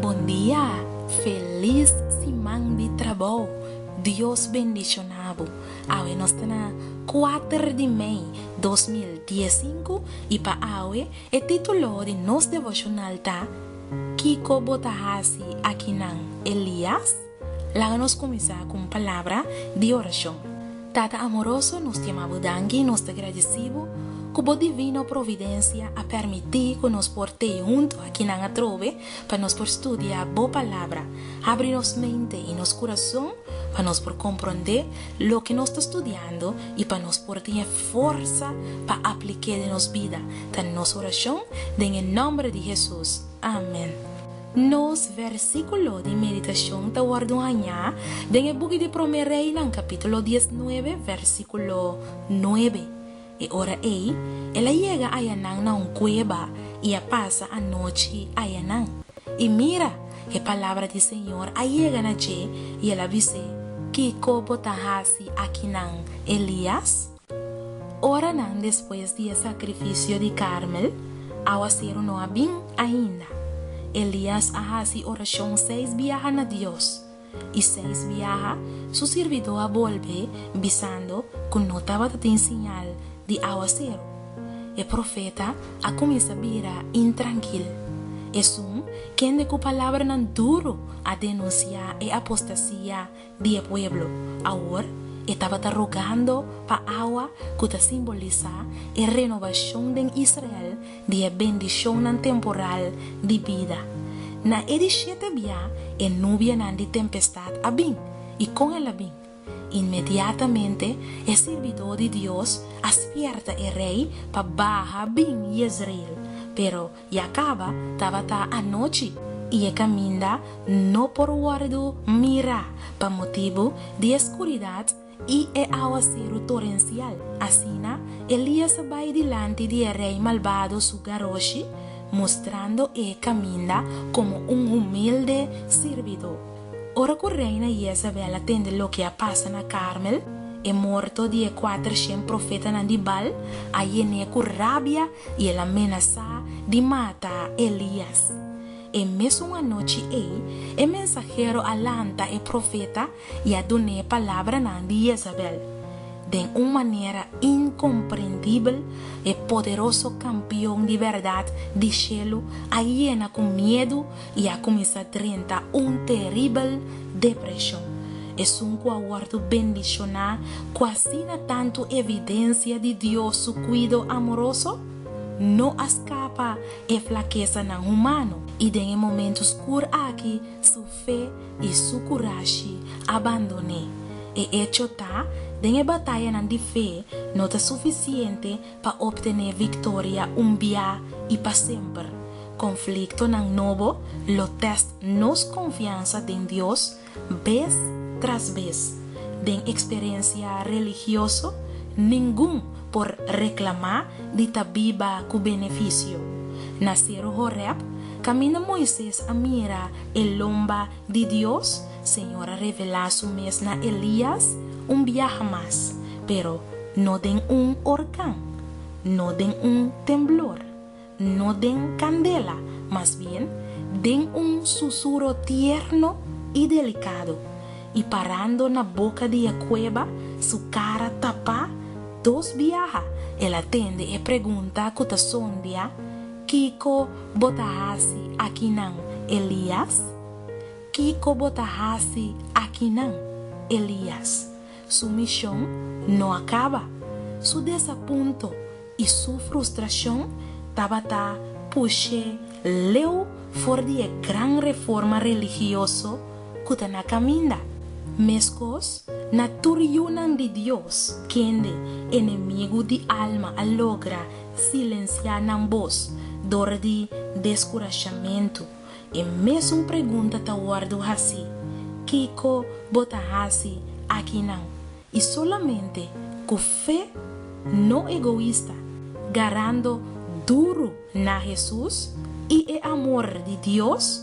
Bon dia! Felis siman di trabou! Dios bendiciona bo! Awe nos ta na kuater di mei dos mil dies sinku i pa awe e titulo di nos devoshonal ta, Kiko bo ta hasi aki nan, Elias? Laga nos kuminsá ku un palabra di orashon. Tata amoroso, nos tiama Bo danki i nos ta gradisí Bo ku Bo divino providensia a pèrmití ku nos por t'e huntu aki nan atrobe pa nos por studia Bo Palabra. Abri nos mente i nos kurason pa nos por komprondé loke nos ta studiando i pa nos por tin e forsa pa aplik'é den nos bida, ta nos orashon den e nòmber di Hesus. Amèn. Nos versíkulo di meditashon ta wòrdu hañá den e buki di Promé Reinan kapítulo diesnuebe, versíkulo nuebe. E ora ei, el a yega ayanan na un kueba i a pasa anochi ayanan. I mira! e palabra di Señor a yega na dje i el a bis'é, Kiko bo ta hasi akinan, Elías? Oranan despues di e sakrifisio di Karmel, awaseru no a bin ainda. Elias a hasi orashon seis biaha na Dios, i seis biaha su sirbidó a bolbe bisando ku no tabata tin siñal di awaseru. E profeta a kuminsá bira intrankil. Esun kende ku palabranan duru a denunsiá e apostasia di e pueblo. Awor e tabata rogando pa awa ku ta simbolisá e renobashon den Israel di e bendishonnan temporal di bida. Na e di shete bia e nubianan di tempestat a bin, i kon el a bin? Inmediatamente e sirbidó di Dios a spièrta e rei pa baha bin Yezreel, pero Y a caba, tabata anochi, y e caminda no por wordo mira pa motibu di e scuridad y e awaceru torencial. Asina Elias a bay dilanti di e rey malbado su garoshi, mostrando e caminda como un humilde sirbido. Ora cu reina Yezabel a tende loke a pasa na Carmel, e morto di e cuatershent profetanan di Baal a yené cu rabia I el a menasá di mata Elías. E mesun anochi ei, e mensahero a lanta e profeta i a dun'é palabranan di Yezabel. Den un manera inkomprendibel, e poderoso Kampion di bèrdat di shelu a yena ku miedu i a kuminsá drenta un teribel depreshon. Esun ku a wòrdu bendishoná ku asina tantu evidensia di Dios su kuido amoroso no a skapa e flakesanan humano, i den e momentu skur aki su fe i su kurashi a bandon'é. E echo ta, den e batayanan di fe no ta sufisiente pa optené victoria un bia i pa semper. Conflictonan nobo lo test nos confiansa den Dios bes tras bes. Den experiencia religioso ningun por reclama di ta biba cu beneficio. Na Cero Horeb, caminda Moises a mira e lomba di Dios, Señor a revelá su mes na Elías un biaha mas, pero no den un orkan, no den un temblor, no den kandela, mas bien den un susuro tierno i delikado, i parando na boka di e kueba, su kara tapá, dos biaha el a tende e pregunta ku ta sondia, Kiko bo ta hasi akinan, Elias? Kiko bo ta hasi akinan, Elias? Su mishon no a kaba. Su desapunto i su frustrashon tabata push'é leu for di e gran reforma religioso ku ta na kaminda. Meskos na tur yunan di Dios kende enemigu di alma a logra Silensiá nan bos dor di deskurashamentu. E mesun pregunta ta wòrdu hasí, Kiko bo ta hasi akinan? I solamente ku fe no egoista, garando duru na Hesus i e amor di Dios,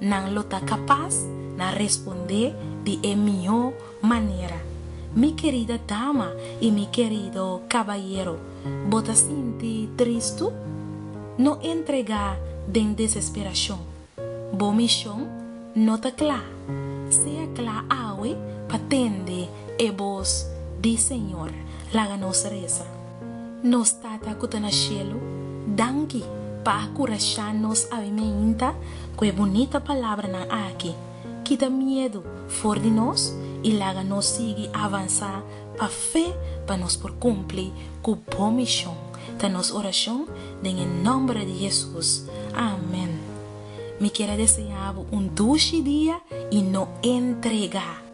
Nan lo ta kapas na respondé di e mihó manera, Mi kerida dama i mi kerido kabayero, bo ta sinti tristu? No entregá den desesperashon. Bo mishon no ta kla. Sea kla awe pa tende e bos di Señor. Laga nos resa. Nos Tata ku ta na shelu, danki pa a kurashá nos awe meinta ku e bunita palabranan aki. Kita miedu for di nos i laga nos sigui avansá pa fe pa nos por kumpli ku bo mishon, ta nos orashon den e nòmber di Hesus. Amèn. Mi kier a deseá bo un dushi dia i no entregá.